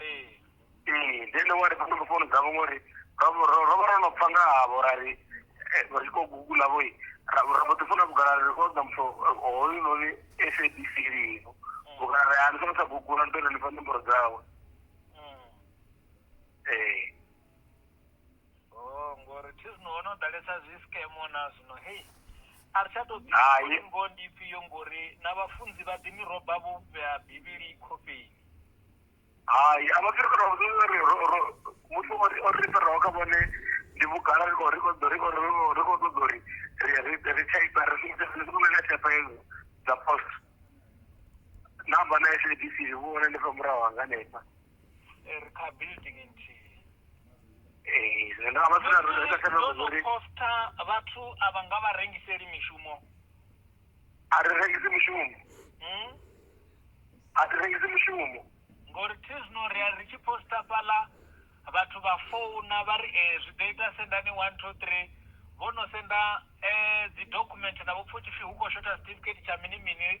ee then wa ri fhano founu dzavho ngori ro vha ro- ro vha ro no pfa nga havho ra ri eh, vha tshi khou gugula vho ra ra mbo ḓi funa vhugala ri o ḓa muthu eh, hoyu noni sabc lino vhugala ri a ni songo tsha gugula ni ṱoḓa ni fha nomboro dzawe ee Oh, ngori thi zwino ho no ḓalesa zwi skemo na zwino hei a ri tsha tou Hai. ḓi ngo ndi ifhio ngori na vhafunzi vha ḓi miroba vho vhea bivhili khofheni hai a vha fhiri faraho zwo ri ro- ro- muthu o ri- o ri faraho kha vhone ndi vhugala ri khou- ri khou ḓo- ri khou- ri khou- ri khou ṱoḓa uri ri- ri- ri type ri shumise ri shumise na type hedzo dza post namba na SABC vhu hone ndi fha murahu hanga hanefha ri kha building nthihi ee ndo vha sina ro ita kana uri posta vhathu a vha nga vha rengiseli mishumo a ri rengisi mishumo hmm? a ri rengisi mishumo ngori thi zwino ri a ri tshi posta fhala vhathu vha founa vha ri ee eh, zwi ḓo ita sendani one two three vho no senda um dzi document na vhopfa u tshipfi hu khou shotha certificate tsha mini mini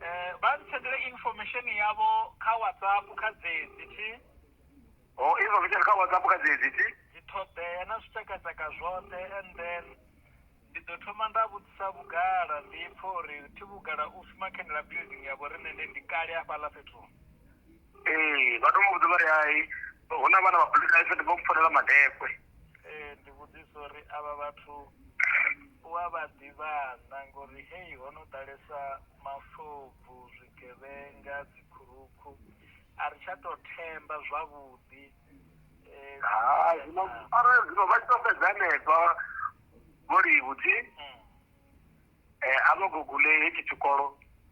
Eh, vha ntsendele information yavho kha whatsapp kha dzedzi thi o izo vhitshele kha whatsapp kha dzedzi thi dziṱhoḓea na zwitshakatshaka zwoṱhe and then ndi ḓo thoma nda vhudzisa vhugala ndi pfha uri thi vhugala u shuma khendela building ya vho riṋe nde ndi kale hafhaḽa fhethu ee vha to mu vhudza vha ri hai hu na vhana vha bulinaifhe ndi vho mpfonela madekwe ee ndi vhudzisa uri avha vhathu u a vha ḓivha na ngori hei ho no ḓalesa mafobvu zwigevhenga dzikhurukhu a ri tsha to themba zwavhuḓi eh, ha zwino arali zwino vha tshi to fhedza hanefha vho livhuthi mm, eh, a vho gugule hetshi tshikolo